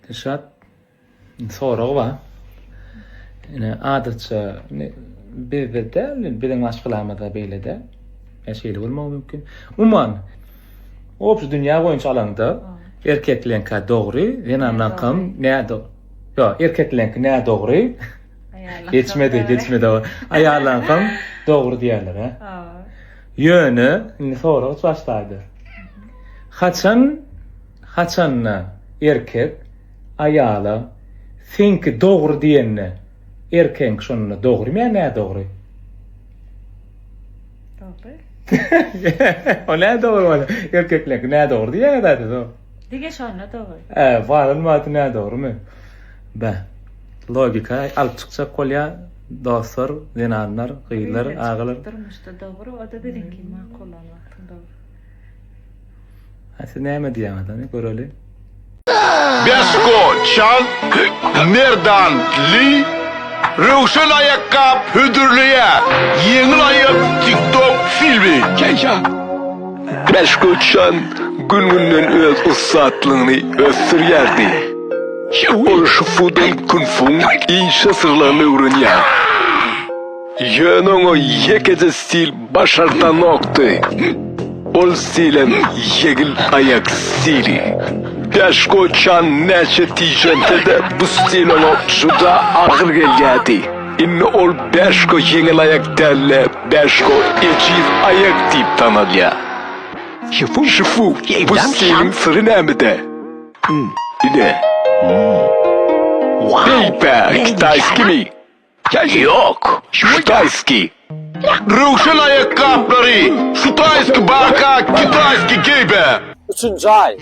Dilşat soragy bar. Ine adatça bizde däl, biziň maşgalamyzda beýle däl. Ýa şeýle bolmagy mümkin. Umuman, obşi dünýä boýunça alaňda erkekleňkä dogry, zenanlaňkam nädo-, ýo, erkekleňki nädogry, geçmedi, geçmedi o, aýallaňkam dogry diýýärler-ä. Ýöne, indi sorag hiç başdaýdy. Haçan. Haçanda erkek aýala seňki dogry diýende erkegiňki şonda dogrymy ýa nädogry? Dogry. O nädogry bolýa. Erkeklerki nädogry diýýäňä zat o. Dige şonda dogry. Ä, balan wagty nädogrymy? Bä. Logika alyp çykjak bolýa dostlar, zenanlar, gyzlar, agalar. Durmuşda dogry, o-da biziňki makul bolan wagtyň dogry. Siz näme diýýäňiz ony göreli. Besko çalt merdandly röwşen aýakgap hödürleýä ýeňil aýak tiktok filmi çeýşat. Besko çalt gün günden öz ussatlygyny ösdürýärdi. Ol şufudan kunfuň inçe syrlaryny öwrenýär. Ýöne oňa ýekeje stil başardanokdy. Ol stilem ýegil aýak stili. Bäş goçan näçe tijense-de bu stil oňa juda agyr gelýärdi. Indi ol Bäşko ýeňil aýak däl-de, Bäşko ejiz aýak diýip tanalýar. Şifu, bu stiliň syry nämede? Ine. Beýpä, kitaýskimi? Ýok, şutaýskiý. Röwşen aýakgaplary, şutaýskiý barka, kitaýskiý geýbe. Üçünji aý,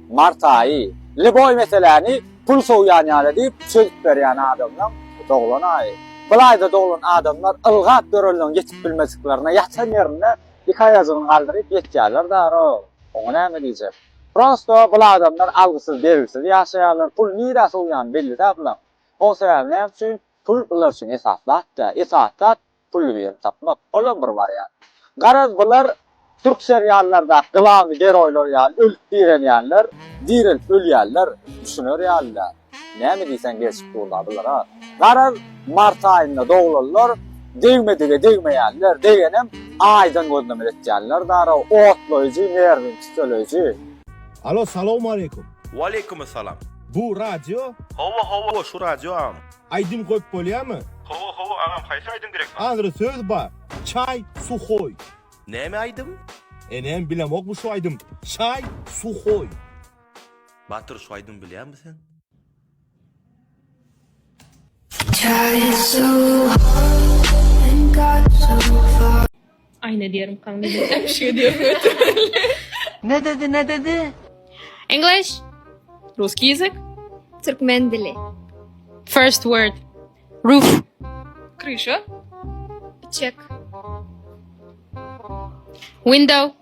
mart aýy. Lýuboý meseläni pul sowýan ýaly diýip çözüp berýän adamlaň doglan aýy. Bulaýda doglan adamlar ylgap dörelňe ýetip bilmeziklerine ýatan ýerinde iki aýajygyny galdyryp ýetýärler daro. Oňa näme diýjek. Prosto bul adamlar algysyz-bergisiz ýaşaýarlar, pul nirä sowýany belli dä bulaň. Şol sebäpli näme üçin pul bular üçin esasy zat däl. Esasy zat pully birini tapmak. Olam bir wariant. Garaz bular türk seriallardaky gylamy geroýlar ýaly ölüp direlýänler, direlip ölýänler düşüner ýaly däl. Näme diýseň gelşip durlar bulara. Garaz mart aýynda doglanlar degmedige degmeýänler, degenem aýdan gözleme etýänler darag, otlaýjy, nerwiňi tüseleýji. Alo salowmaleýkum. Waleýkumysalam. Bu radio? Hawa hawa şu radio agam. Aýdym goýup bolýamy? Hawa hawa agam haýsy aýdym gerek bar? Agyry söz bar. Çaý suhoý. Näme aýdym? Enem bilemokmy şu aýdym. Çaý suhoý. Batyr şu aýdym bilýäňmi sen? Aýna diýerin kaň diýerin öpüşige diýerin. Ne dedi ne dedi? English. Ruski ýezik. Türkmen dili. First word. Roof. Kryşa. Çek. Window.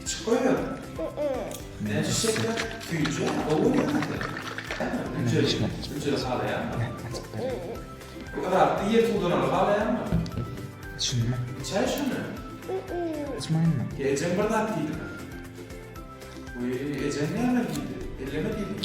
Içip goýaň. Näçe şeker süýje gowy ýaly. Hüjreli halaýaňmy? Bu yrakda ýer suwdanaly halaýaňmy? Içinmi? Içäý şony. Içmaýynmy? Ejeň bir zat diýdimi? Wiý, ejeň näme diýdi? Elleme diýdimi?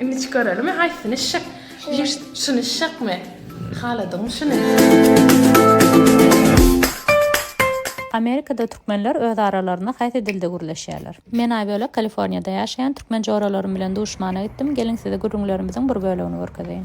Indi çykaralym haýsyny şyh. Şuny şyhmy? Haladygyň şuny. Amerikada türkmenler öz aralarynda haýsy dilde gürleşýärler? Men Aýbölek Kaliforniýada ýaşaýan türkmen joralarym bilen duşmana gitdim, geliň size gürrüňlerimiziň bir bölegini görkezeýin.